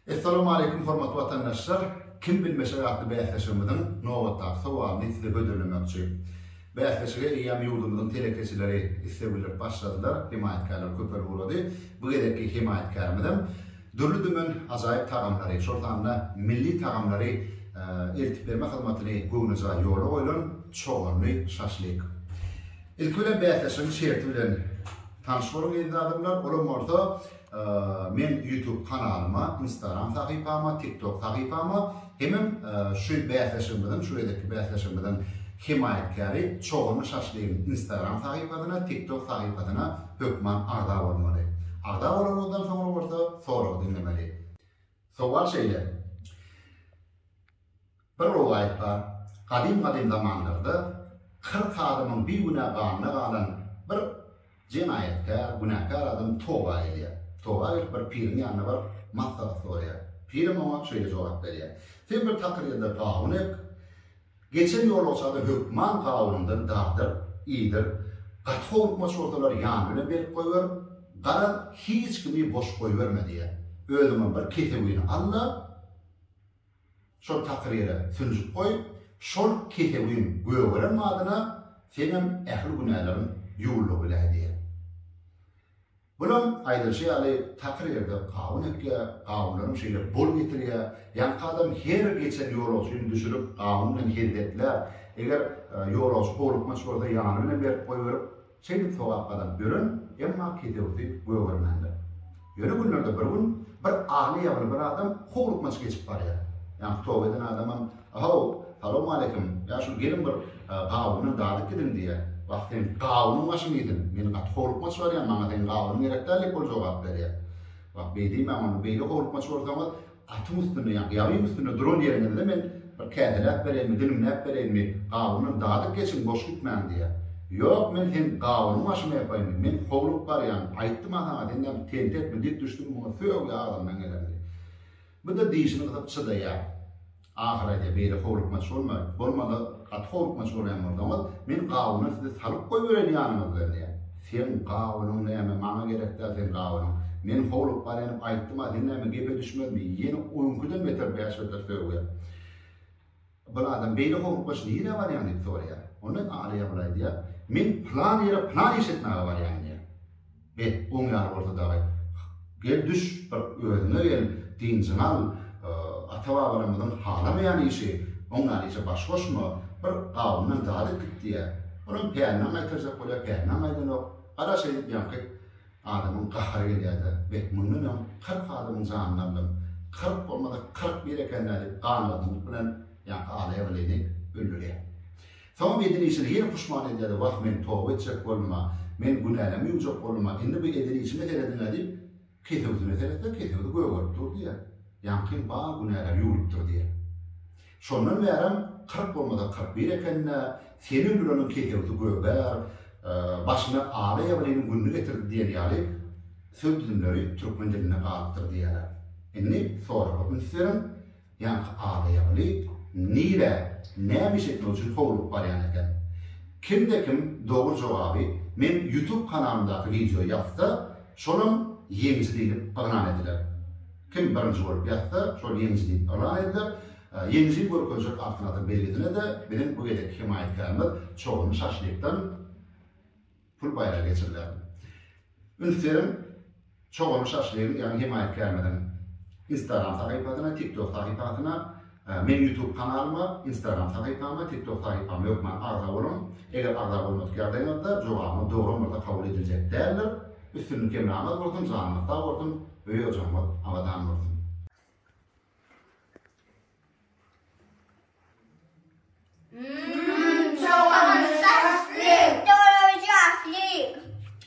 Essalamu Aleýkum hormatly watandaşlar! Kim bilmeşek atly bäsleşigimiziň nobatdaky sowalyny size hödürlemekçi. Bäsleşige eýýäm ýurdumyzyň telekeçileri isleg bildirip başladylar, hemaýatkärler köpelip ugrady. Bu gezekki hemaýatkärimiz-em dürli-dümen ajaýyp tagamlary, şol sanda milli tagamlary eltip berme hyzmatyny göwnejaý ýola goýlan Çoganly şaşlyk. Ilki bilen bäsleşigiň şerti bilen tanyş boluň eziz adamlar, olam bolsa Men YouTube kanalyma, Instagram sahypama, TikTok sahypama hemem şu bäsleşigimiziň, şu gezekki bäsleşigimiziň hemaýatkäri Çogany şaşlygyň Instagram sahypasyna, TikTok sahypasyna hökman agza bolmaly. Agza bolanymyzdan soňra bolsa soragy diňlemeli. Sowal şeýle, Bir rowaýat bar, gadym-gadym zamanlarda kyrk adamyň bigünä ganyna galan bir jenaýatkär, günäkär adam toba gelýär. Toba gelip bir piriň ýanyna baryp, maslahat soraýar. Pirim oňa şeýle jogap berýär, Sen bir takyr ýerde pagyn ek, Geçen ýolagçany hökman gawunyndan dardyp, iýdirip, gaty howlukmaç bolsalar ýany bilen berip goýberip, garaz, hiç kimi boş goýberme diýýär. Özüňem bir kesewini al-da, şol takyr ýere sünjük goý, şol kesewiň gögeren badyna seňem ähli günäleriň ýuwlugy biläý diýýär. Bulam, aýdylyşy ýaly, takyr ýerde gawun ekýär, gawunlaram şeýle bol getirýär. Ýaňky adam her geçen ýolagçyny düşürip, gawun bilen hezzetlär. Eger ýolagçy howlukmaç bolsa, ýany bilen berip goýberip, şeýdip sogap gazanyp ýören, emma ketewüsi gögermändir. Ýöne günlerde bir gün bir aly-ýabyly bir adam howlukmaç geçip barýar. Ýaňky toba eden adamam Ahow, salowmaleýkim, ýa şul gelin bir gawuny dadyp gidiň diýýä. Wah seň gawunyň başyň iýsin, men gaty howlukmaç barýan, maňa seň gawunyň gerek däl diýip ol jogap berýä. Wah beý diýmäň onda, beýle howlukmaç bolsaňyz atyň üstünde ýa ýabyň üstünde duran ýeriňizde men bir käseläp bereýinmi, dilimläp bereýinmi, gawuny dadyp geçiň boş gitmäň diýýä. Ýok men seň gawunyň başyna ýapaýynmy, men howlugyp barýan, aýtdym-a saňa, senden tentekmi dik düşdüm muňa sögüä agzymdan gelenini. Bu-da dişini gysyp çydaýar. Ahyry aýdýar, Beýle howlukmaç bolmaý. Bolmasa, gaty howlukmaç bolýan bolsaňyz, men gawuna sizi salyp goýbereýin ýanyňyz bilen diýýär. Seň gawunyň näme, maňa gerek däl seň gawunyň. Men howlugyp barýanyp aýtdym-a, sen näme, gepe düşmezmi? Ýene öňküden beter bäş beter sögýär. Bir adam beýle howlukmaç nirä barýaň diýip soraýar. Onda Aly Ýabyl aýdýar, Men pylan ýere pylan iş etmäge barýan diýýär. Be, oň ýaly bolsa dagy, gel düş, bir özüňe gel, dynjyňy al, ata-babalarymyzyň halamaýan işi, oň ýaly işe baş goşma, bir gawundan zat edip git diýýär. Olam pälinden gaýtarjak bolýar, pälinden gaýdanok. Gara şeýdip ýaňky. Adamyň gahary gelýär-de, Beh, mundan öň kyrk adamyň janyny aldym. Kyrk bolmasa, kyrk bir eken-dä diýip, ganlazanlyk bilen ýaňky alaýagylyny öldürýär. Soňam eden işine ýene puşman edýär-de, Wah, men toba etjek boldum-a, men günälerimi ýuwjak boldum-a, indi bu eden işime serediň-ä diýip, kesewsine seretse, kesewsi gögerip dur diýýär. Ýaňkyň bar günäleri ýuwlup dur diýýär. Şondan bärem kyrk bolmasa kyrk bir eken-dä, seni öldüreniň kesewsi gögär, başyna Ala Ýabylynyň gününi getirdi diýen ýaly söz düzümleri türkmen dilinde galypdyr diýýärler. Indi soraga üns beriň, ýaňky Ala Ýabyly nirä, näme iş etmek üçin howlugyp barýan eken? Kimde-kim dogry jogaby meň Ýutub kanalymdaky wideoýa ýazsa, şolam ýeňiji diýlip yglan ediler. Kim birinji bolup ýatsa, şol ýeňiji diýip yglan ediler. Ýeňiji görkezjek Altyn asyr belgisine-de biziň bu gezekki hemaýatkärimiz Çoganly şaşlykdan pul baýragy geçiriler. Üns beriň, Çoganly şaşlygyň, ýagny hemaýatkärimiziň Instagram sahypasyna, TikTok sahypasyna Meň YouTube kanalyma, Instagram sahypama, TikTok sahypama hökman agza boluň. Eger agza bolmadyk ýagdaýyňyzda jogabyňyz dogry bolmasa kabul ediljek däldir. Üstünlik hemraňyz bolsun, janyňyz sag bolsun, öý-ojagyňyz abadan bolsun. Mmm jogabym saçsyz. Doly jahli.